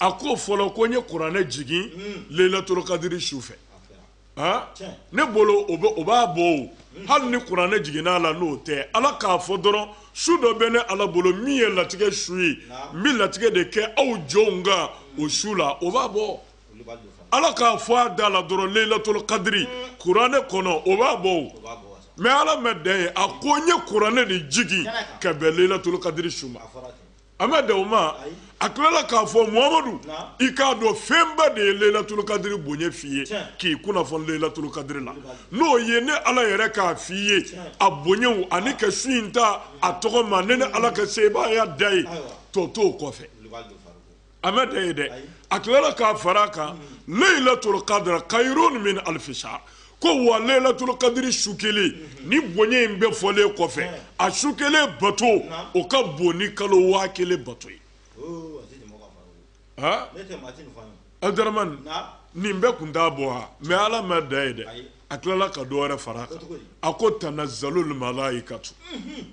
a ko fɔlɔ ko n ye kuranɛ jigin hmm. lelatolokadiri su fɛ ne bolo o b'a bɔ o hmm. hali ni kuranɛ jiginna a la n'o tɛ ala k'a fɔ dɔrɔn su dɔ bɛ ne ala bolo min ye latigɛ su ye n bɛ latigɛ de kɛ aw jɔnw kan o su la o b'a bɔ ala k'a fɔ a da la dɔrɔn lelatolokadiri hmm. kuranɛ kɔnɔ o b'a bɔ o mɛ ala ma dan yen a ko n ye kuranɛ de jigin ka bɛn lelatolokadiri su ma a ma dan o ma a tilala k'a fɔ muhamadu i k'a dɔn fɛnba de ye leyilatulu kadiri bonya f'i ye k'i kunnafoni leyilatulu kadiri la n'o ye ne ala yɛrɛ k'a f'i ye a bonyaw ani ka su in ta a tɔgɔ ma ne ne ala ka sebaaya dan ye tɔ t'o kɔfɛ a ma dan yen dɛ a tilala k'a fara a kan leyilatulu kadira kayirun min alifisa ko wa lelatul kadiri su kelen nin bonya in bɛɛ fɔlen kɔfɛ a su kelen bato o ka bon ni kalo waa kelen bato ye abudramani nin bɛɛ tun t'a bɔ wa mɛ ala ma dan yen dɛ a tilala ka dɔ wɛrɛ fara a kan a ko tanazalul malaikatu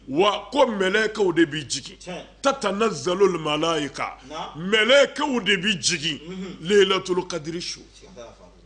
wa ko mɛlɛkɛw de bi jigin ta tanazalul malaika mɛlɛkɛw de bi jigin lelatul kadiri su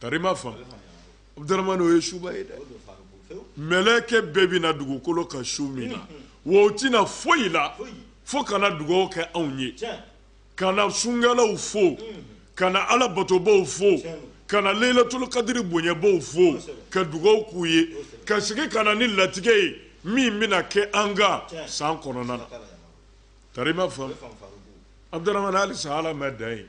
tari ma fa abudurmani o ye suba ye dɛ mɛlɛkɛ bɛɛ bɛ na dugukolo kan su min na wa u tɛ na foyi la fo ka na dugaw kɛ anw ye ka na sunkɛlaw fo ka na ala batobaw fo ka na leyilatulu kadiri bonyabaw fo ka dugaw k'u ye ka segin ka na ni latigɛ ye min bɛna kɛ an kan san kɔnɔna na tari ma fa abudurmani hali sa ala ma dan yen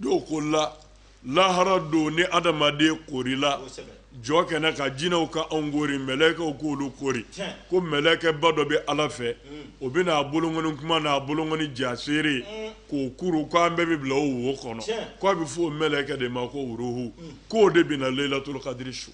dɔw ko la lahara don ni adamaden korila jɔkɛnɛ kan jinɛw ka anw kori mɛlɛkɛw k'olu kori ko mɛlɛkɛba dɔ bɛ ala fɛ o bɛ n'a bolonkɔni kunba n'a bolonkɔni jaaseere k'o kuru ko an bɛɛ bɛ bila o wo kɔnɔ k'a bɛ fɔ o mɛlɛkɛ de ma ko waruhu k'o de bɛ na leyilatulu kadiri su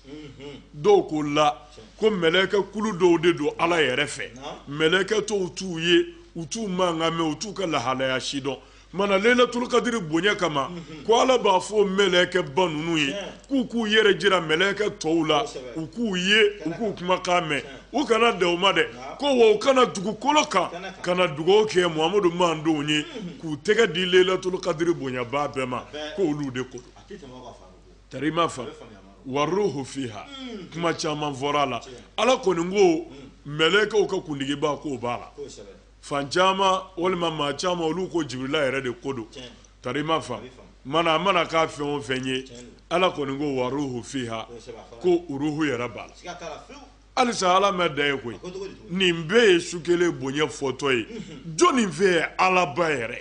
dɔw ko la ko mɛlɛkɛ kulu dɔw de don ala yɛrɛ fɛ mɛlɛkɛ tɔw t'u ye u t'u mankan mɛn u t'u ka lahalaya si dɔn mana lelatulu kadiri bonya kama ko ala b'a fɔ mɛlɛkɛba ninnu ye k'u k'u yɛrɛ jira mɛlɛkɛ tɔw la u k'u ye u k'u kumakan mɛn u kana dan o ma dɛ ko wa u ka na dugukolo kan ka na dugawu kɛ muhamadu mandenw ye k'u tɛgɛ di lelatulu kadiri bonyaba bɛɛ ma k'olu de ko tari ma fa waruhu fiha kuma caman fɔra a la ala kɔni ko mɛlɛkɛw ka kuntigiba k'o b'a la fan caman walima maa caman olu ko jibirila yɛrɛ de ko don tari i ma fa mana a mana kɛ fɛn o fɛn ye ala kɔni ko waruhu fiha ko ruhu yɛrɛ b'a la halisa ala ma dan yen koyi nin bɛɛ ye su kelen bonya fɔtɔ ye jɔnni fɛ ye alaba yɛrɛ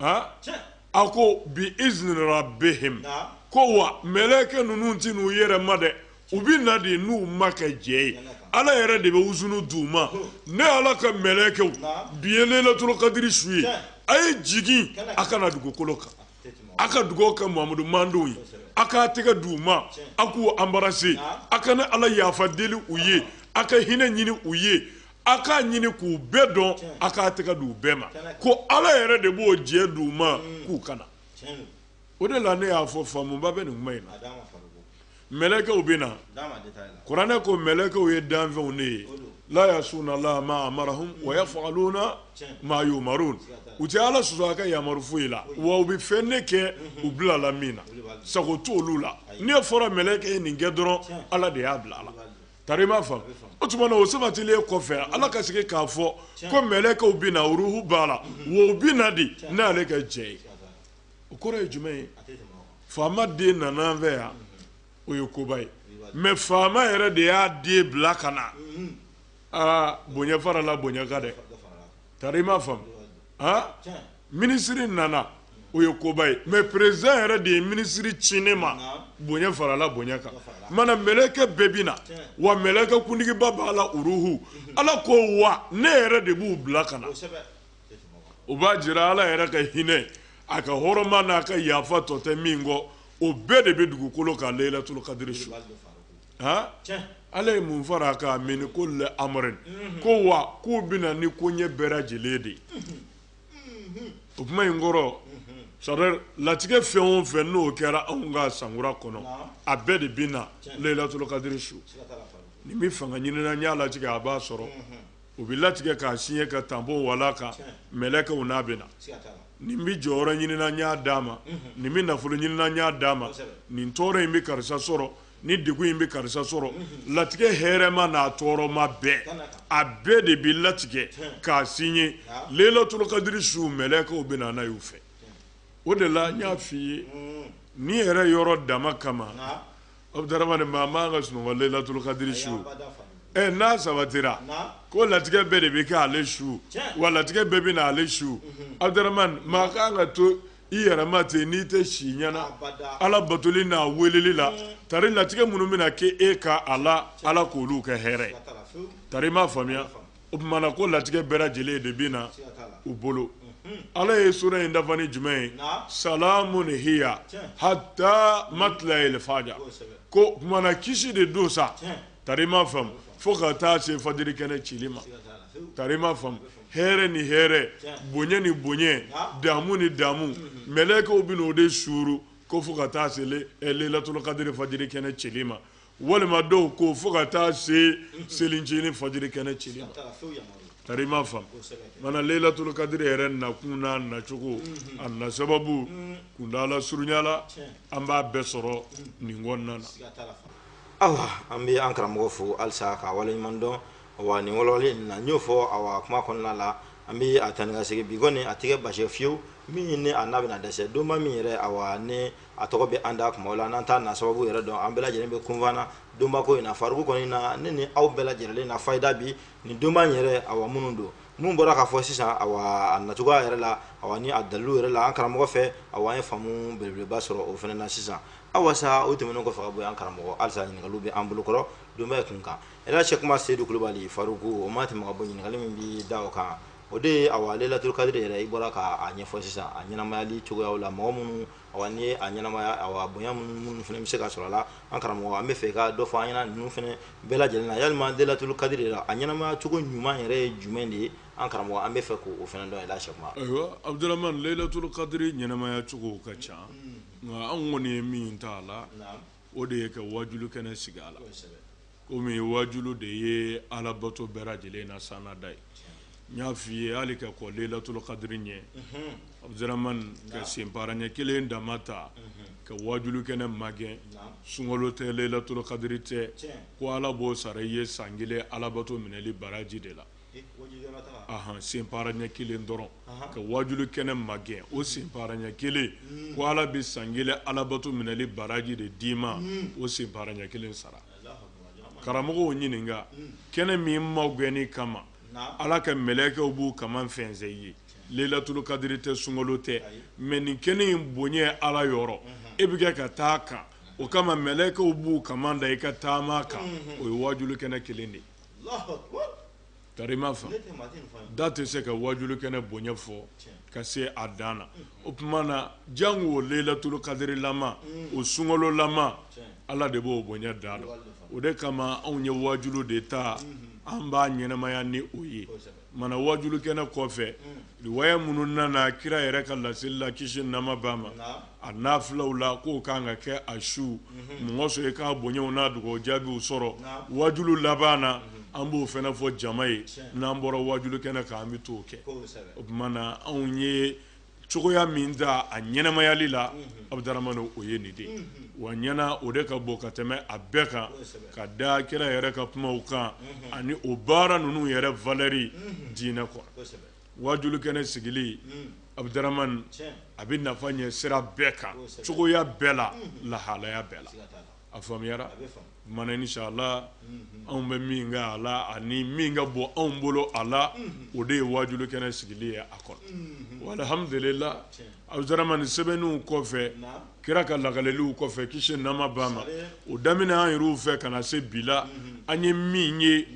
a ko bi izini rabbihim ko wa mɛlɛkɛ ninnu tɛ n'u yɛrɛ ma dɛ u bɛ na de n'u makɛ jɛ ye ala yɛrɛ de bɛ izini d'u ma ne ala ka mɛlɛkɛw bi ye leyilatul kadiri su ye a ye jigin a ka na dugukolo kan a ka dugawu kɛ muhamadu madenw ye a k'a tɛgɛ di u ma a k'u anbarase a ka ne ala yafa deli u ye a ka hinɛ ɲini u ye a k'a ɲini k'u bɛɛ dɔn a k'a tɛgɛ d'u bɛɛ ma ko ala yɛrɛ de b'o jɛ d'u ma k'u ka na o de la ne y'a fɔ faamuba bɛ nin kuma in na mɛlɛkɛw bɛ na kuranɛ ko mɛlɛkɛw ye danfɛnw ne ye la yasuna la ma amarahum wa yafaluna ma yumarun u tɛ ala sɔsɔ a ka yamaru foyi la wa u bɛ fɛn ne kɛ u bilala min na sago t'olu la n'a fɔra mɛlɛkɛ ye nin kɛ dɔrɔn ala de y'a bila a la Tari i m'a faamu, o tuma na o sabatilen kɔfɛ Ala ka segin k'a fɔ ko mɛlɛkɛw bɛ na ruuhu b'a la wa u bɛ na de n'ale ka jɛ ye o kɔrɔ ye jumɛn ye faama den nana an fɛ yan o ye koba ye mais faama yɛrɛ de y'a den bila ka na aa bonya farala bonya kan dɛ tari i m'a faamu minisiri nana o ye koba ye mɛ perezidan yɛrɛ de ye minisiri ci ne ma bonya farala bonya kan mana mɛlɛkɛ bɛɛ bɛ na wa mɛlɛkɛ kuntigiba b'a la uruhu ala ko wa ne yɛrɛ de b'u bila ka na o b'a jira ala yɛrɛ ka hinɛ a ka hɔrɔma n'a ka yafa tɔ tɛ min kɔ o bɛɛ de bɛ dugukolo kan leyilatul kadiri su ala ye mun far'a kan mini kuli amuri ko wa k'u bɛ na ni koɲɛ bɛɛ lajɛlen de ye o kuma in kɔrɔ sa latigɛ fɛn o fɛn n'o kɛra anw ka sankura kɔnɔ a bɛɛ de bɛ na leyilatul kadiri su nin bɛ fanga ɲini n y'a latigɛ a b'a sɔrɔ o bɛ latigɛ k'a siɲe ka tanpɔn walan a kan mɛlɛkɛw n'a bɛ na nin bɛ jɔyɔrɔ ɲini n y'a d'a ma nin bɛ nafolo ɲini n y'a d'a ma nin tɔɔrɔ in bɛ karisa sɔrɔ nin degun in bɛ karisa sɔrɔ latigɛ hɛrɛma n'a tɔɔrɔma bɛɛ a bɛɛ de bɛ latigɛ k'a siɲe leyilatul kadiri su mɛlɛkɛw bɛ na y'u fɛ o de la n y'a fɔ i ye n'i yɛrɛ yɔrɔ dama kama aw bɛ taarama nin ma ban ka sunɔgɔ leyilatul kadiri su ɛ n'a sabatira ko latigɛ bɛɛ de bɛ kɛ ale su wa latigɛ bɛɛ bɛ na ale su aw maa' ka to i yɛrɛ ma ten n'i tɛ si ɲɛna ala batoli n'a weleli la tari latigɛ minnu bɛna kɛ e kan a la ala k'olu kɛ hɛrɛ ye tari m'a faamuya o tuma na ko latigɛ bɛɛ lajɛlen de bɛ na u bolo ala ye sura in dafa ni jumɛn ye salamun hiya hata matilayil fajar k'o tuma na kisi de don sa tari m'a faamu fo ka taa se fajiri kɛnɛ cili ma tari m'a faamu hɛrɛ ni hɛrɛ bonya ni bonya damu ni damu mm-hmm. mɛlɛkɛw bɛ o de suuru ko fo ka taa se eh, lelatolokadiri fajiri kɛnɛ cɛli ma walima dɔw ko fo ka taa se mm-hmm. selincinin fajiri kɛnɛ cɛli ma tari m'a faamu mana lelatolokadiri yɛrɛ nakun n'a nacogo mm-hmm. a na sababu kuntaala surunya la an b'a bɛɛ sɔrɔ nin kɔnɔna na. an bɛ an karamɔgɔ fo halisa k'a waleɲuman dɔn Wa nin wɔɔrɔlen na n'o fɔ a kuma kɔnɔna la an bɛ a tan ka segin bi kɔni a tɛ kɛ baasi ye fewu min ɲini ne a n'a bɛna na dɛsɛ donba min yɛrɛ a ne a tɔgɔ bɛ an da tuma la n'an t'a na sababu yɛrɛ dɔn an bɛɛ lajɛlen bɛ kunfana donba ko in na faku kɔni na ne ni aw bɛɛ lajɛlen na fa da bi nin donba yɛrɛ a minnu don minnu bɔra k'a fɔ sisan a na cogoya yɛrɛ la a ni a dalu yɛrɛ la an karamɔgɔ fɛ an ye faamu beleba sɔrɔ o fana na sisan awa o tɛmɛnen kɔfɛ bɔ an karamɔgɔ halisa ɲininkali bɛ an bolokɔrɔ donba yɛrɛ kun kan Elhaj Sɛki Umaru Seyidu Kulubali Faruku o ma tɛmɛ ka bɔ yen, ɲininkali min bɛ da o kan, o de ye awa Layilatul kadiri yɛrɛ i bɔra k'a ɲɛfɔ sisan, a ɲɛnamayali cogoyaw la, mɔgɔ minnu awa n'i ye a ɲɛnamaya awa bonya minnu minnu fana bɛ se ka sɔrɔ a la, an karamɔgɔ an b'a fɛ i ka dɔ fɔ an ɲɛna ninnu fana bɛɛ lajɛlen na, yalima Layilatul kadiri yɛrɛ a ɲɛnamaya cogo ɲuman yɛrɛ ye jumɛn de ye? an karamɔgɔ an b'a fɛ k'o fana dɔn Elhaj Sɛki Umaru. Ayiwa Abudramani, Layilatul kadiri ɲɛnamaya cogow ka ca, nka anw kɔni ye min ta a la, o de ye ka wajulu kɛnɛ sigi a la komi wajulu de ye alabato bɛɛ lajɛlen na sanda ye n y'a fɔ i ye hali ka kɔn lelatɔ kadiri ɲɛ Abudramani ka senpaara ɲɛ kelen dama ta ka wajulu kɛnɛ magɛn sunkalo tɛ lelatɔ kadiri tɛ ko ala b'o sara i ye san kelen alabato minɛli baraji de la senpaara ɲɛ kelen dɔrɔn ka wajulu kɛnɛ magɛn o senpaara ɲɛ kelen ko ala bɛ san kelen alabato minɛli baraji de d'i ma o senpaara ɲɛ kelen sara karamɔgɔw ɲininka kɛnɛ min magɛnni kama ala ka mɛlɛkɛw b'u kaman fɛnsɛn i ye lelaturu kadiri tɛ sunkolo tɛ mais nin kɛnɛ in bonya ala yɔrɔ i bɛ kɛ ka taa kan o kama mɛlɛkɛw b'u kaman da i ka taama kan o ye wajulu kɛnɛ kelen de ye Tari m'a faamu da tɛ se ka wajulu kɛnɛ bonya fɔ ka se a dan na o tuma na janko o lelaturu kadiri lama o sunkolo lama ala de b'o bonya dan lɔn o de kama anw ye wajulu de ta an b'a ɲɛnamaya ni o ye Mana wajulu kɛnɛ kɔfɛ riwaya minnu nana kira yɛrɛ ka laseli la kisi nɛɛma b'a ma a nafilaw la k'o ka kan ka kɛ a su mɔgɔ sɔrɔ i k'a bonyaw n'a dugawu jaabiw sɔrɔ wajulu laban na an b'o fana fɔ jama ye n'an bɔra wajulu kɛnɛ kan an bɛ t'o kɛ o tuma na anw ye cogoya min ta a ɲɛnamayali la abdrahman o ye nin de ye wa ɲɛna o de ka bon ka tɛmɛ a bɛɛ kan ka da kira yɛrɛ ka kumaw kan ani o baara ninnu yɛrɛ valɛri diinɛ kɔnɔ waajuli kɛnɛ sigili abdrahman a bɛ nafa ɲɛ sira bɛɛ kan cogoya bɛɛ la lahalaya bɛɛ la a faamuyara ma insalla anw bɛ min kɛ a la ani min ka bon anw bolo a la o de ye waajuli kɛnɛ sigili ye a kɔnɔ walihamidulila abdrahman sɛbɛnni kɔfɛ kira ka lakaliliw kɔfɛ ki nama ban ma o daminɛ an yɛrɛ fɛ ka na se bi la an ye min ye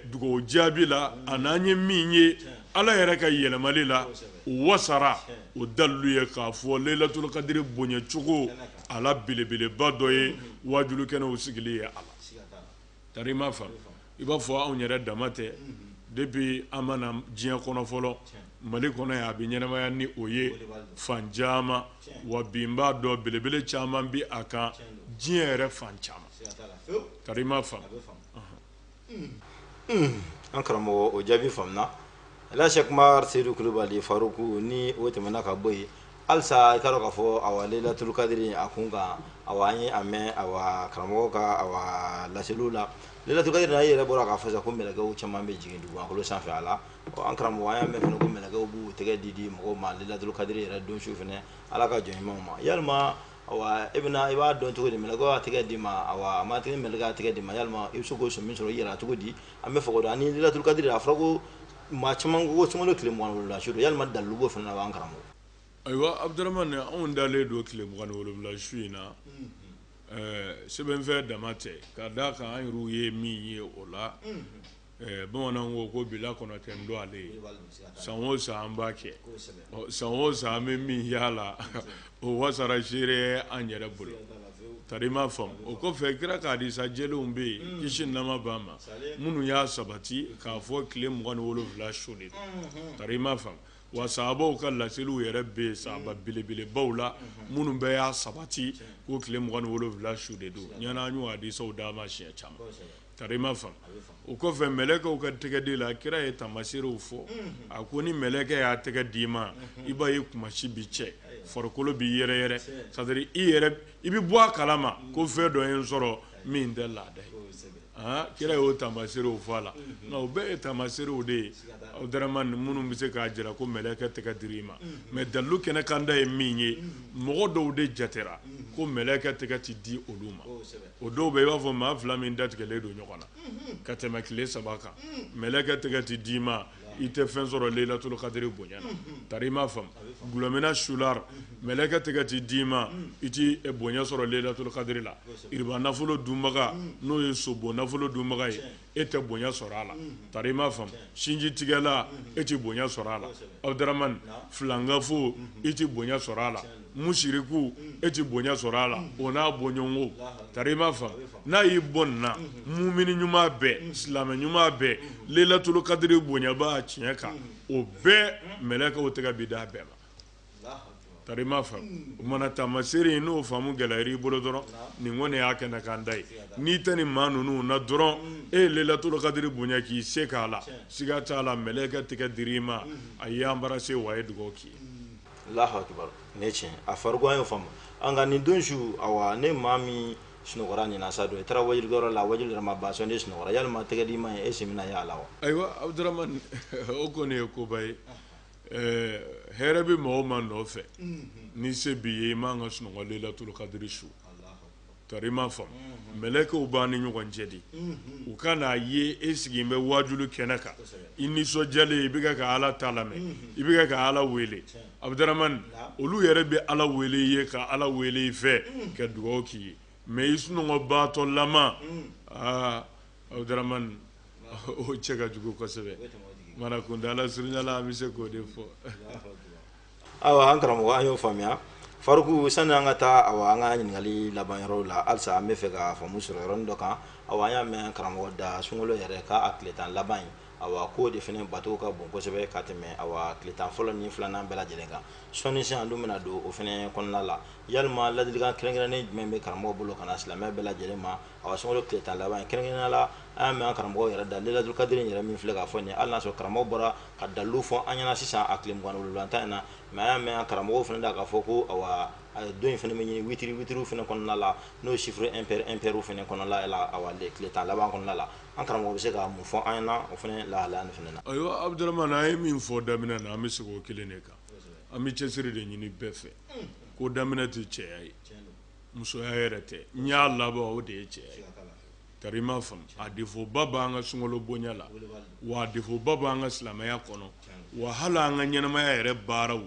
dugawu jaabi la ani an ye min ye ala yɛrɛ ka yɛlɛmali la o wasara o dalilu ye k'a fɔ layilatul kadiri bonyacogo a la belebeleba dɔ ye waajuli kɛnɛw sigili ye a la ta i m'a faamu i b'a fɔ anw yɛrɛ dama tɛ depuis an ma na diɲɛ kɔnɔ fɔlɔ mali kɔnɔ a bɛ ɲɛnamaya ni o ye fan caman wa bi n b'a dɔn belebele caman bɛ a kan diɲɛ yɛrɛ fan caman ka i ma fa an karamɔgɔ o jaabi faamuyara sɛku umaru seyidu kulubali faruku ni o tɛmɛna ka bɔ yen halisa i k'a dɔn k'a fɔ a layilatul kadiri a kun kan a an ye a mɛn a karamɔgɔ ka laseliw la layilatul kadiri yɛrɛ bɔra k'a fɔ ko mɛlɛkɛw caman bɛ jigin dugu a sanfɛ a la an karamɔgɔ an y'a mɛn ko mɛlɛkɛw b'u tɛgɛ di di mɔgɔ ma layilatul kadiri yɛrɛ don su fana ala ka jɔn ɲumanw ma ya Ayiwa e bɛna i b'a dɔn cogo di mɛlɛkɛ b'a tɛgɛ d'i ma a ma tɛgɛ minɛ k'a tɛgɛ d'i ma ya i bɛ se k'o sɔmi sɔrɔ i yɛrɛ cogo di an bɛ fɔ ni layilatul kadiri a fɔra ko maa caman ko sun tile la s ya dalubo fana b'an kama ayiwa abdrahman anw dalen don tile mugan ni wolonwula su in na sɛbɛn fɛn dama tɛ ka d' a kan an yɛrɛ ye min ye o la bamananw ko ko bila kɔnɔ tɛ don ale ye san o san an b'a kɛ san o san an bɛ min ye a la o wasara ziiri an yɛrɛ bolo ta i m'a faamu o kɔfɛ kira ka hadisa jɛlenw bɛ yen kisi nama ban ma minnu y'a sabati k'a fɔ tile mugan ni wolo wolonwula su de ta i m'a faamu wa sahabaw ka laseliw yɛrɛ bɛ yen sahaba belebelebaw la minnu bɛ y'a sabati ko tile mugan ni wolo wolonwula su de don o ɲɔgɔn hadisaw dama siɲɛ caman ka ma fa o kɔfɛ mɛlɛkɛw ka tɛgɛdili la kira ye tamaseerew fɔ a ko ni mɛlɛkɛ y'a tɛgɛ d'i ma i b'a ye kunmasi bɛ cɛ farikolo bɛ yɛrɛyɛrɛ sa i bɛ bɔ a kala ma ko fɛn dɔ ye n sɔrɔ min tɛ laada aa kira y'o tamaseerew fɔ a la nka u bɛɛ ye tamaseerew de ye aw g minnu bɛ se k'a jira ko mɛlɛkɛ tɛgɛ dira i ma mɛ dalilu kɛnɛ kanda ye min ye mɔgɔ dɔw de jatera ko mɛlɛkɛ tɛgɛ tɛ di olu ma o dɔw bɛ i b'a fɔ maa fila min datigɛlen don ɲɔgɔn na ka tɛmɛ tile saba kan mɛlɛkɛ tɛgɛ tɛ d'i ma i tɛ fɛn sɔrɔ lelaturu kadiri bonya na tari i m'a faamu dɔlɔminna sula mɛlɛkɛ tɛgɛ tɛ d'i ma i tɛ bonya sɔrɔ lelaturu kadiri la riba nafolo dunbaga n'o ye sobon nafolo dunbaga ye e tɛ bonya sɔrɔ a la tari i m'a faamu sinji tigɛla e tɛ bonya sɔrɔ a la abudaramani filankafo e tɛ bonya sɔrɔ a la musiriku e tɛ bonya sɔrɔ a la o n'a bɔɲɔgɔnko tari i m'a faamu n'a y'i bɔ nin na mumini ɲuman bɛɛ silamɛ ɲuman bɛɛ lelaturu kadiri bonyabaa tiɲɛ kan o bɛɛ mɛlɛkɛw tɛgɛ bɛ d'a bɛɛ ma tari i m'a faamu o mana taamaseere in n'o faamu gɛlɛyara i bolo dɔrɔn nin kɔni y'a kɛnɛ kan ta ye n'i tɛ nin maa ninnu na dɔrɔn e ye lelaturu kadiri bonya k'i se k'a la siga t'a la mɛlɛkɛ tɛgɛ dira i ma a y'i anbarase wa a ye dugawu k'i ye alahu akibaru ne tiɲɛ a faruku an y'o faamu nka nin don su awa ni maa min sunɔgɔra nin na sa dun i taara wajuli kɛyɔrɔ la wajuli yɛrɛ ma ban sɔnni i sunɔgɔra yalima tɛgɛ di ma ye e sen bɛna y'a la wa ayiwa abudaramani o kɔni ye koba ye ɛɛ hɛrɛ bɛ maa o maa nɔfɛ ni se b'i ye i man ka sunɔgɔ lelaturu kadiri su tari i m'a faamu mɛlɛkɛw b'an ni ɲɔgɔn cɛ de u ka n'a ye e sigilen bɛ wajuli kɛnɛ kan i nisɔndiyalen i bɛ ka ala ta lamɛn i bɛ ka ala wele abudaramani olu yɛrɛ bɛ ala wele i ye ka ala wele i fɛ ka dugawu k'i ye mɛ i sunɔgɔbaatɔ lama aa abudaramani o cɛ ka jugu kosɛbɛ mara kun da ala surunyala an bɛ se k'o de fɔ ayiwa an karamɔgɔ an y'o faamuya faruku sani an ka taa awa an ka ɲininkali laban yɔrɔw la halisa an bɛ fɛ ka faamu sɔrɔ yɔrɔnin dɔ kan awa an y'a mɛn karamɔgɔ da sunkalo yɛrɛ k'a a tile tan laban in awa k'o de fana bato ka bon kosɛbɛ ka tɛmɛ awa tile tan fɔlɔ ni filanan bɛɛ lajɛlen kan sɔnni sisan an dun bɛna don o fana kɔnɔna la yalima ladilikan kɛrɛnkɛrɛnnen jumɛn bɛ karamɔgɔ bolo ka na silamɛ bɛɛ lajɛlen ma A ka sumaworo tile tan laban kɛrɛnkɛrɛnnenya la an y'a mɛn karamɔgɔ yɛrɛ da lelaturu kadiri yɛrɛ min filɛ k'a fɔ nin ala y'a sɔrɔ karamɔgɔ bɔra ka dalilu fɔ an ɲɛna sisan a tile mugan ni tan in na mɛ y'a mɛn karamɔgɔ fana da k'a fɔ ko a ye don in fana min ɲini witiri witiri fana kɔnɔna la n'o sifuru ɛnpɛriw fana kɔnɔla la a tile tan laban kɔnɔna la an karamɔgɔ bɛ se ka mun fɔ an ɲɛna o fana lahala fana na ayiwa abudaramani an ye min fɔ daminɛ na an bɛ segin o kelen de kan an bɛ cɛsiri de ɲini bɛɛ fɛ ko daminɛ tɛ cɛya ye musoya yɛrɛ tɛ n'i y'a laban o de ye cɛya ye tari i m'a faamu a defoba bɛ an ka sunkalo bonya la wa defoba bɛ an ka silamɛya kɔnɔ wa hali an ka ɲɛnamaya yɛrɛ baaraw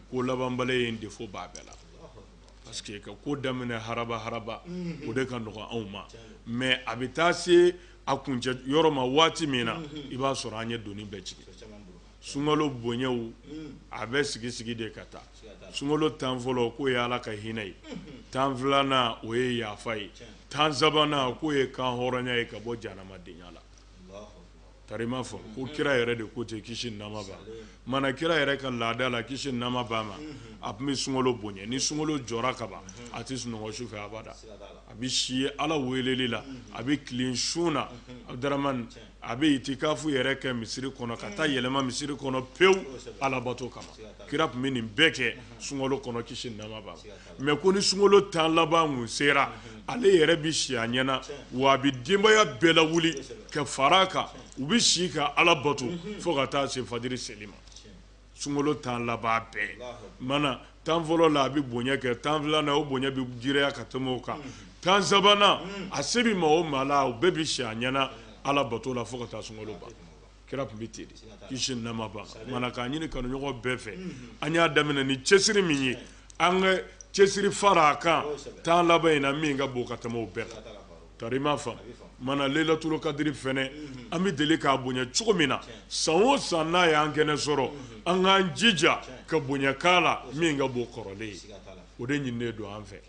ko labanbaliya defo b'a bɛɛ la parce que i ka ko daminɛ haraba haraba o de ka nɔgɔ anw ma mɛ a bɛ taa se a kuncɛyɔrɔ ma waati min na i b'a sɔrɔ an ye doni bɛɛ jigin sunkalo bonyaw a bɛ sigi sigi de ka taa sunkalo tan fɔlɔ k'o ye ala ka hinɛ ye tan filanan o ye yafa ye tan sabanan k'o ye kan hɔrɔnya ye ka bɔ jahanamadenya la karima fɔ ko kira yɛrɛ de ko ten kisi nɛɛma b'a ma mana kira yɛrɛ ka laada la kisi nɛɛma b'a ma a tun bɛ sunkalo bonya ni sunkalo jɔra kaban a tɛ sunɔgɔ su fɛ abada a bɛ si ala weleli la a bɛ tilen sun na a a bɛ itikafu yɛrɛ kɛ misiri kɔnɔ ka taa yɛlɛma misiri kɔnɔ pewu alabato kama kira tun bɛ nin bɛɛ kɛ sunkalo kɔnɔ kisi nɛɛma b'a ma ko ni sunkalo tan laban sera ale yɛrɛ bɛ si a ɲɛ na wa a bɛ denbaya bɛɛ lawuli ka fara a kan u bɛ si ka ala bato fo ka taa se fajiri seli ma sunkalo tan laban bɛɛ mana tan fɔlɔ la a bɛ bonya kɛ tan filanan o bonya bɛ girinya ka tɛmɛ o kan tan sabanan a se bɛ maa o maa la o bɛɛ bɛ si a ɲɛ na ala bato la fo ka taa sun ban kira tun bɛ ten kisi nɛɛma b'a ma mana k'a ɲini kanuɲɔgɔn bɛɛ fɛ an y'a daminɛ ni cɛsiri min ye an ka cɛsiri fara a kan tan laban in na min ka bon ka tɛmɛ o bɛɛ kan Karima fa mana lelaturu kadiri fana an bɛ deli k'a bonya cogo min na san o san n'a y'an kɛnɛ sɔrɔ an k'an jija ka bonya k'a la min ka bon kɔrɔlen ye o de ɲininen don an fɛ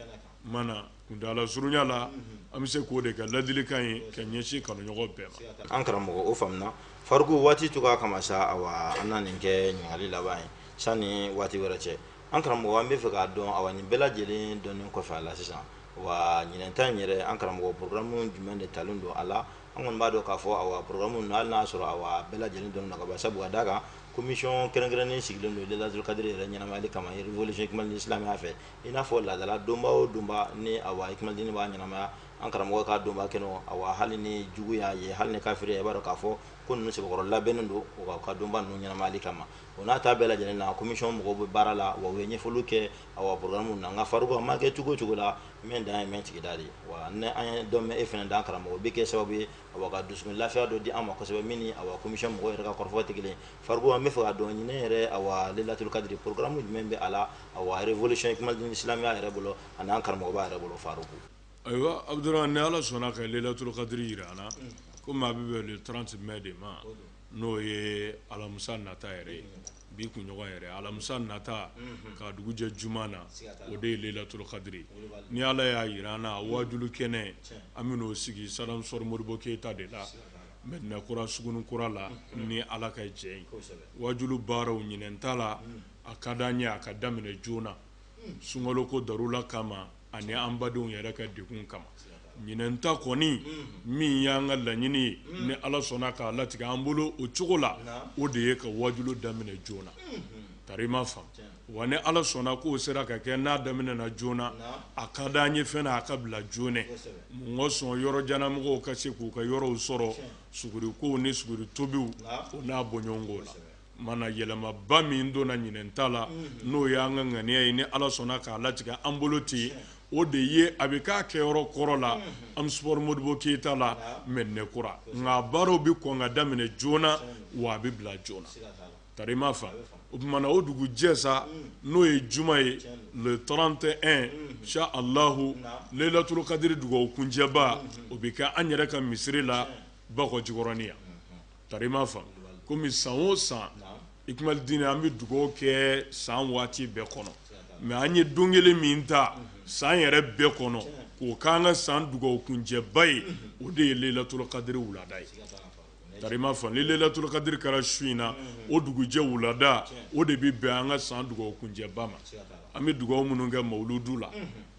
mana kuntaala surunya la an bɛ se k'o de kɛ laadilikan ye ka ɲɛsin kanuɲɔgɔn bɛɛ ma an karamɔgɔ o faamuna faruku waati tun kama sa awa an na nin kɛ ɲininkali laban ye sanni waati wɛrɛ cɛ An karamɔgɔ an b'a fɛ k'a dɔn awa nin bɛɛ lajɛlen dɔnni kɔfɛ a la sisan awa ɲinan yɛrɛ an karamɔgɔ porogaramu jumɛn de talen don a la an kɔni b'a dɔn k'a fɔ porogaramu n' y'a sɔrɔ a bɛɛ lajɛlen dɔn naba sabu ka d'a kan komisiyɔn kɛrɛnkɛrɛnnen sigilen don lelaturu kadiri yɛrɛ ɲɛnamaya kama walima mawulidi silamɛya fɛ i n'a fɔ laadala donba o donba ni a ikundi b'a ɲɛnamaya an karamɔgɔ ka donba kɛ a hali ni jugu y'a ye hali ni kafiri a b'a dɔn k'a fɔ ko ninnu sɛbɛkɔrɔ labɛnnen don ka donba ninnu ɲɛnamayali kama ma O n'a ta bɛɛ lajɛlen na komisiyɔn mɔgɔw bɛ baara la wa ye ɲɛfɔli kɛ a faamuna nka faruku a mana kɛ cogo o cogo la mɛ dan ye mɛ sigida de ye wa an ye dɔn e fana dan karamɔgɔ o bɛ kɛ sababu ye a dusu lafiya dɔ di an ma kosɛbɛ min ni komisiyɔn mɔgɔ yɛrɛ ka kɔrɔfɔ tɛ kelen faruku an b'a fɛ k'a dɔn ɲinan yɛrɛ a lelaturu kadiri porogaramu jumɛn bɛ a la a walic kuma di silamɛya yɛrɛ bolo ani an karamɔgɔ yɛrɛ bolo faruku ayiwa a ni ala sɔnna ka lelaturu kadiri jira an na ko maa bɛ tran tun bɛ de ma n'o ye alamisa nata yɛrɛ ye bi kunɲɔgɔn yɛrɛ alamisa nata ka dugujɛ juma na o de ye lelaturu kadiri ni ala y'a jira an na waajuli kɛnɛ an bɛn'o sigi stade omnisports modibo keyita de la medina kura sugunin kura la ni ala ka jɛn ye waajuli baaraw ɲinan ta la a ka di an ye a ka daminɛ joona sunkalo ko darura kama ani an badenw yɛrɛ ka dɛgun kama ɲinan ta kɔni min y'an ka laɲini ye ni ala sɔnna k'a latigɛ an bolo o cogo la o de ye ka waju daminɛ joona ka i m'a faamu wa ni ala sɔnna k'o sera ka kɛ n'a daminɛna joona a ka di an ye fana a ka bila joona mɔgɔ sɔn yɔrɔjanmɔgɔw ka se k'u ka yɔrɔw sɔrɔ suguri ko ni suguri tobi n'a bɔɲɔgɔnw la Mana yɛlɛmaba min donna ɲinan ta la n'o ye an ka ŋaniya ye ni ala sɔnna k'a latigɛ an bolo ten o de ye a bɛ kɛ a kɛyɔrɔ kɔrɔ la an bɛ Modibo Keyita la Mɛdinakura nka baaraw bɛ kɔn ka daminɛ joona wa a bɛ bila joona ka i m'a faamu o tuma mana o dugujɛ sa n'o ye juma ye wulada fɛ e sa leyilatulu kadiri dugawu kuncɛba o bɛ kɛ an yɛrɛ ka misiri la Bako Jikɔrɔnin yan ka i m'a faamu kɔmi san o san i kuma di an bɛ dugaw kɛ san waati bɛɛ kɔnɔ mɛ an ye don kelen min ta san yɛrɛ bɛɛ kɔnɔ k'o k'an ka san dugaw kuncɛba ye o de ye leyilatulu kadiri wulada ye ka i m'a faamu leyilatulu kadiri kɛra su min na o dugujɛ wulada o de bɛ bɛn an ka san dugaw kuncɛba ma an bɛ dugaw minnu kɛ mawuludu la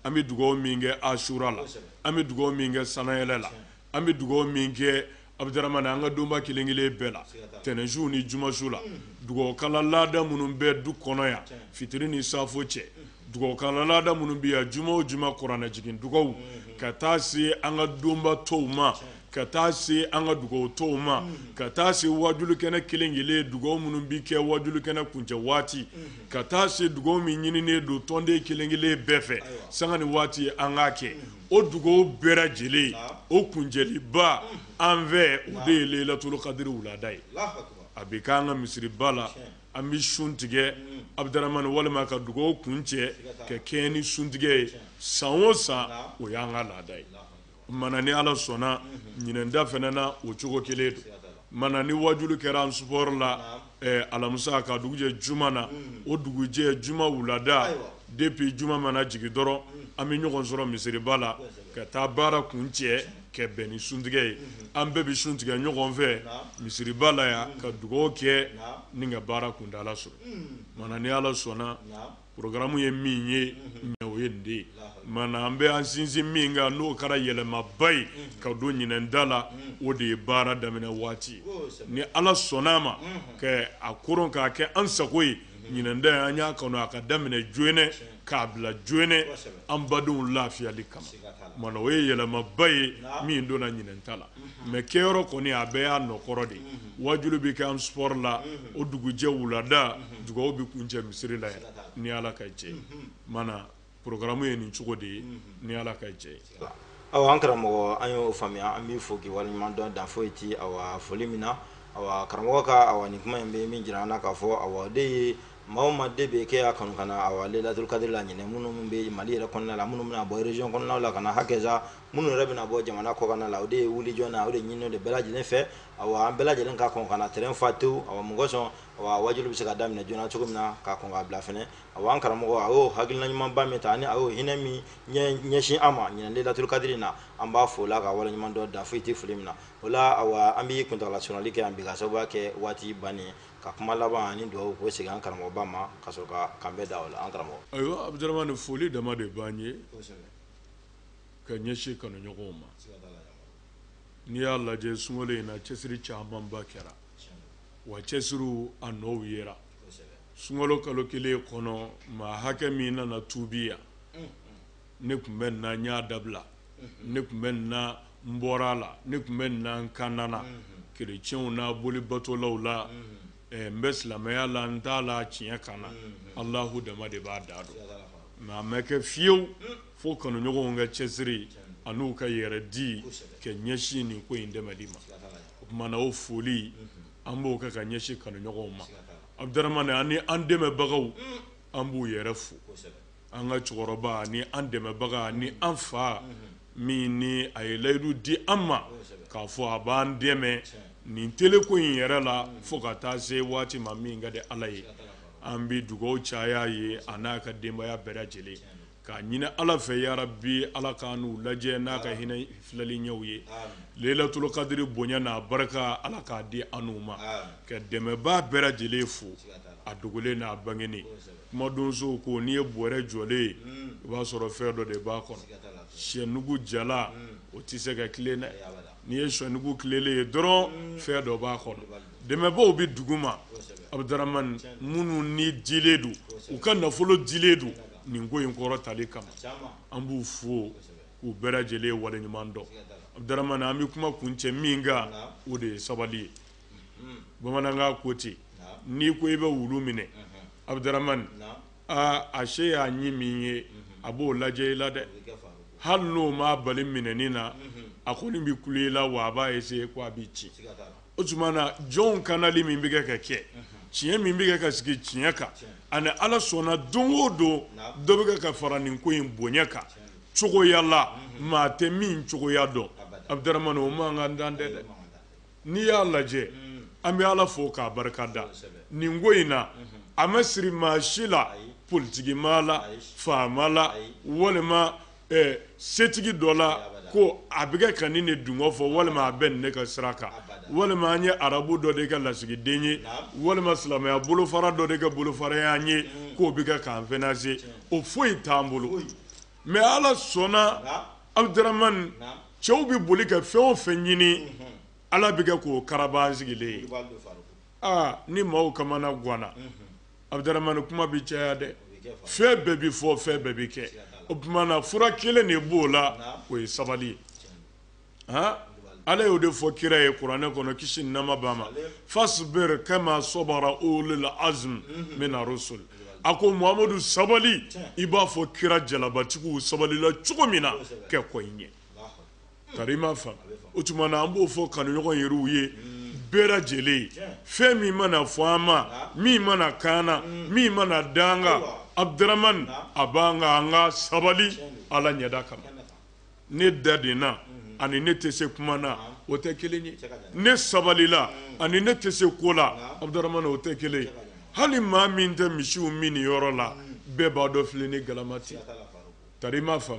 an bɛ dugaw min kɛ asura la an bɛ dugaw min kɛ san yɛlɛma la an bɛ dugaw min kɛ abudaramani an ka donba kelen kelen bɛɛ la tɛnɛnsuw ni jumasuw la dugawukala laada minnu bɛ du kɔnɔ yan fitiri ni saafo cɛ dugawukala laada minnu bɛ yan juma o juma kuranɛ jigin dugawu ka taa se an ka donba tɔw ma ka taa se an ka dugawu tɔw ma ka taa se wajukɛnɛ kelen kelen dugawu minnu bɛ kɛ wajukɛnɛ kuncɛ waati ka taa se dugawu min ɲininen don tɔnden kelen kelen bɛɛ fɛ san ni waati an ka kɛ o dugawu bɛɛ lajɛlen o kuncɛba an fɛ o de ye leyilatulu kadiri wulada ye a bɛ kɛ an ka misiriba la an bɛ sun tigɛ abudaramani walima ka dugawu kuncɛ ka kɛɲɛ ni suntigɛ ye san o san o y'an ka laada ye mana ni ala sɔnna ɲinan ta fana na o cogo kelen don mana ni waju kɛra ɔminisipɔri la alamisa ka dugujɛ juma na o dugujɛ juma wulada depuis juma mana jigin dɔrɔn an bɛ ɲɔgɔn sɔrɔ misiriba la ka taa baara kuncɛ ka bɛn ni suntigɛ ye an bɛɛ bɛ sun tigɛ ɲɔgɔn fɛ misiriba la yan ka dugaw kɛ ni ka baara kundala sɔrɔ mana ni ala sɔnna Porogaramu ye min ye o ye dɛ mana an bɛ an sinsin min kan n'o kɛra yɛlɛmaba ye ka don ɲinan ta la o de ye baara daminɛ waati ni ala sɔnna a ma a k k'a kɛ an sago ye ɲinan ta an y'a kanu a ka daminɛ joona k'a bila joona an badenw lafiyali kama mana o ye yɛlɛmaba ye min donna ɲinan ta la mɛ ke kɔni a bɛ y'a nɔ kɔrɔ de waju bɛ kɛ an su la o dugujɛ wula da dugawu bɛ kuncɛ misiri la ni ala ka jɛ mana porogaramu ye nin cogo de ye ni ala ka jɛ aw an karamɔgɔ an y'o faamuya an b'i fo k'i ka waleɲuman dɔn dan foyi tɛ a foli min na a karamɔgɔ ka a ni kuma in bɛ min jira an na k'a fɔ a de ye maa ma de bɛ kɛ kanu kama a lelaturu kadiri la ɲ minnu bɛ mali yɛrɛ kɔnɔna la minnu bɛna bɔ rezɔn kɔnɔna la ka hakɛsa minnu yɛrɛ bɛna bɔ jamana kɔkanna la o de ye wuli joona o de ɲininen don bɛɛ lajɛlen fɛ awa an bɛɛ lajɛlen ka kɔn ka na terrain fa tewu awa mɔgɔ sɔn awa wajuli bɛ se ka daminɛ joona cogo min na ka kɔn k'a bila fɛnɛ awa an karamɔgɔ a y'o hakilina ɲumanba min ta ani a y'o hinɛ min ɲɛsin an ma ɲinan lelaturu kadiri na an b'a fo k'a ka waleɲuman dɔn dan foyi tɛ foli min na o la awa an bɛ kuntaala surunyali kɛ yan bi k'a sababuya kɛ waati bannen ye ka kuma laban ani duwawu k'o segin an karamɔgɔba ma ka sɔrɔ ka kanbɛ da o la an karamɔgɔ ayiwa abudaramani foli dama de b'an ye ka ɲɛsin kanuɲɔgɔnw ma n'i y'a lajɛ sunkalo in na cɛsiri camanba kɛra wa cɛsiriw a nɔw yera sunkalo kalo kelen kɔnɔ maa hakɛ min nana tuubi yan ne tun bɛ nin na n y'a dabila ne tun bɛ nin na n bɔra a la ne tun bɛ nin na n kanna na kerecɛnw na boli batolaw la n bɛ silamɛya la n t'a la tiɲɛ kan na Alahu dama de b'a da dɔn mais a ma kɛ fewu fo kanuɲɔgɔnw ka cɛsiri an'u ka yɛrɛ di ka ɲɛsin nin ko in dɛmɛni ma o tumana o foli an b'o kɛ ka ɲɛsin kanuɲɔgɔnw ma Abudaramani an ni an dɛmɛbagaw an b'u yɛrɛ fo an ka cɛkɔrɔba ani an dɛmɛbaga ani an fa min ni a ye layidu di an ma k'a fɔ a b'an dɛmɛ nin teleko in yɛrɛ la fo ka taa se waati ma min ka di Ala ye an bɛ dugawu caya a ye a n'a ka denbaya bɛɛ lajɛlen k'a ɲinin ala fɛ yan bi ala k'an lajɛ n'a ka hinɛ filɛli ɲɛw ye lelatulu kadiri bonya n'a barika ala k'a di an ma ka dɛmɛbaa bɛɛ lajɛlen fo a dogolen n'a bangelen kumadonso ko n'i ye bɔrɛ jɔlen ye o b'a sɔrɔ fɛn dɔ de b'a kɔnɔ saki jalan o tɛ se ka tilen dɛ n'i ye saki tilennen ye dɔrɔn fɛn dɔ b'a kɔnɔ dɛmɛbaaw bɛ dugu ma abudaramani minnu ni dilen don u ka nafolo dilen don nin ko in kɔrɔtali kama an b'u fo k'u bɛɛ lajɛlen waleɲuman dɔn abudurahmani an bɛ kuma kuncɛ min kan o de ye sabali ye bamanankan ko ten n'i ko i bɛ wulu minɛ abudurahmani aa a se y'a ɲin min ye a b'o lajɛ i la dɛ hali n'o m'a bali minɛni na a kɔni bɛ kule i la wa a b'a essayer ko a b'i cin o tuma na jɔnw kanali min bɛ kɛ ka kɛ tiɲɛ min bɛ kɛ ka sigi tiɲɛ kan ani ala sɔnna don o don dɔ bɛ kɛ ka fara nin ko in bonya kan cogoya la maa tɛ min cogoya dɔn abudaramani o ma ka dan tɛ dɛ n'i y'a lajɛ an bɛ ala fo k'a barika da nin ko in na a ma siri maa si la politigi maa la faama la walima ɛ setigi dɔ la ko a bɛ kɛ ka ne de dungɔ fɔ walima a bɛ ne de ka sira kan walima an ye arabu dɔ de ka lasigiden ye walima silamɛya bolofara dɔ de ka bolofara y'an ye k'o bɛ kɛ k'an finanse o foyi t'an bolo mɛ ala sɔnna abudaramani cɛw bɛ boli ka fɛn o fɛn ɲini ala bɛ kɛ k'o kara sigilen ye aa ni maaw kamana gwanna Abudaramani kuma bɛ caya dɛ fɛn bɛɛ bɛ fɔ fɛn bɛɛ bɛ kɛ o tuma na fura kelen de b'o la o ye sabali ye han Ala y'o de fɔ kira ye kuranɛ kɔnɔ kisi ni nɛɛma b'a ma fasibiri kama sɔbara ululi azimi mina rusuli a ko Muhamadu sabali i b'a fɔ kira jalabatigiw sabalila cogo min na ka kɔn i ɲɛ. tari ma fa o tuma na an b'o fɔ kanuɲɔgɔn yɛrɛw ye bɛɛ lajɛlen fɛn min mana fɔ an ma min mana kaana min mana danga abudaramani a b'an kan an ka sabali ala ɲɛda kama ne dadenna ani ne tɛ se kuma na o tɛ kelen ye ne sabalila ani ne tɛ se ko la abudaramani o tɛ kelen ye hali maa min tɛ misiw minni yɔrɔ la bɛɛ b'a dɔn filen ni galama tɛ tari ma fa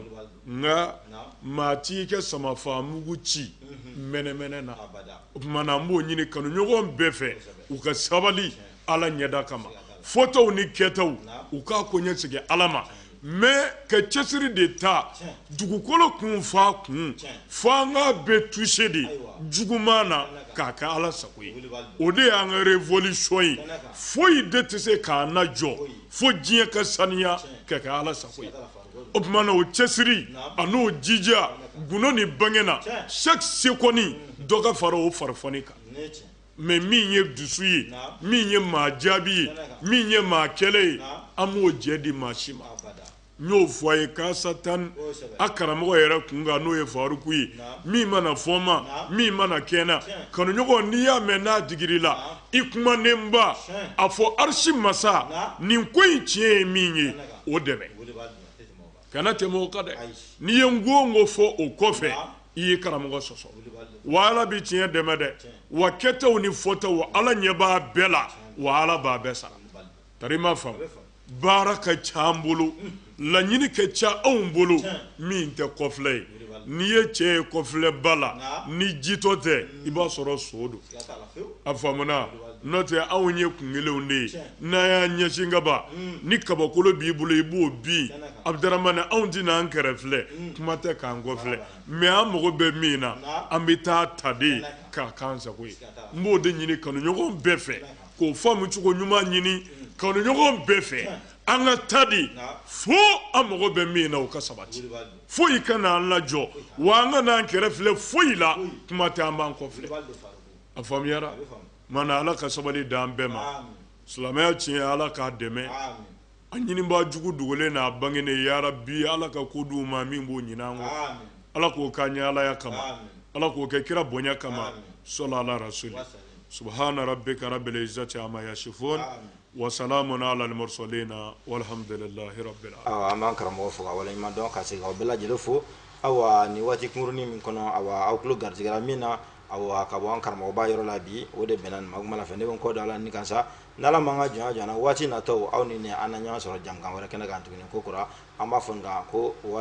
nka maa tɛ kɛ ka sama faa mugu ci mɛnɛmɛnɛ na o tuma na an b'o ɲini kanuɲɔgɔn bɛɛ fɛ u ka sabali ala ɲɛda kama fɔtaw ni kɛtaw u k'a koɲɛ segin ala ma mɛ ka cɛsiri de ta dugukolo kun f'a kun fo an ka bɛɛ tuse de juguman na k'a kɛ ala sago ye o de y'an ka révolution ye foyi de tɛ se k'an lajɔ fo diɲɛ ka saniya ka kɛ ala sago ye o tuma na o cɛsiri an'o jija gundo ni bange na chaque seconde dɔ ka fara o fara kan mɛ min ye dusu ye min ye maa jaabi ye min ye maa kɛlɛ ye an m'o jɛn di maa si ma n y'o fɔ a ye kasa tan a karamɔgɔ yɛrɛ kun kan n'o ye faruku ye min mana fɔ n ma min mana kɛ n na kanuɲɔgɔn n'i y'a mɛn n'a digir'i la i kumanen b'a fɔ arisi masa nin ko in tiɲɛ ye min ye o dɛmɛ kana tɛmɛ o kan dɛ n'i ye ko o ko fɔ o kɔfɛ i ye karamɔgɔ sɔsɔ wa ala bɛ tiɲɛ dɛmɛ dɛ wa kɛtaw ni fɔtaw ala ɲɛ b'a bɛɛ la wa ala b'a bɛɛ sara tari m'a faamu baara ka ca an bolo laɲini ka ca anw bolo min tɛ kɔfilɛ ye n'i ye cɛ ye kɔfilɛ b'a la ni jitɔ tɛ mm. i b'a sɔrɔ son don a faamuna n'o tɛ anw ye kun kelenw de ye n'a y'a ɲɛsin kaba mm. ni kabakolo b'i bolo i b'o bin abudaramani anw tɛna an kɛrɛfilɛ mm. kuma tɛ k'an kɔfilɛ mɛ an mago bɛ min na an bɛ taa a ta de k'a k'an sago ye n b'o de ɲini kanuɲɔgɔn bɛɛ fɛ k'o faamu cogo ɲuman ɲini kanuɲɔgɔn bɛɛ fɛ an ka taa de fo an mago bɛ min na o ka sabati foyi kana an lajɔ wa an kan'an kɛrɛfilɛ foyi la kuma tɛ an b'an kɔfilɛ a faamuyara mana ala ka sabali d'an bɛɛ ma silamɛya tiɲɛ ala k'a dɛmɛ A ɲinibaa jugu dogolen n'a bangenen yarabi ala ka ko di ma min b'o ɲin'an kɔ ala k'o k'an ye alaya kama ala k'o kɛ kira bonya kama sola ala rasulu subuhaana rabika rabil izati ama yasifun wasalamun alal murisalina walahamdulilahi rabi an bɛ karamɔgɔ fo ka waleɲuman dɔn ka se aw bɛɛ lajɛlen fo aw ni waati kunkurunnin min kɔnɔ aw aw tulo garijɛra min na Ayiwa ka bɔ an karamɔgɔba yɔrɔ la bi o de bɛnna ma mana fɛ ne bɛ n kɔ don a la nin kan sa n' ala ma an ka jɔnya jɔ an na waati nataw aw ni ne an na ɲɔgɔn sɔrɔ jankan wɛrɛ kɛnɛ kan tuguni ko kura an b'a fɔ ko waa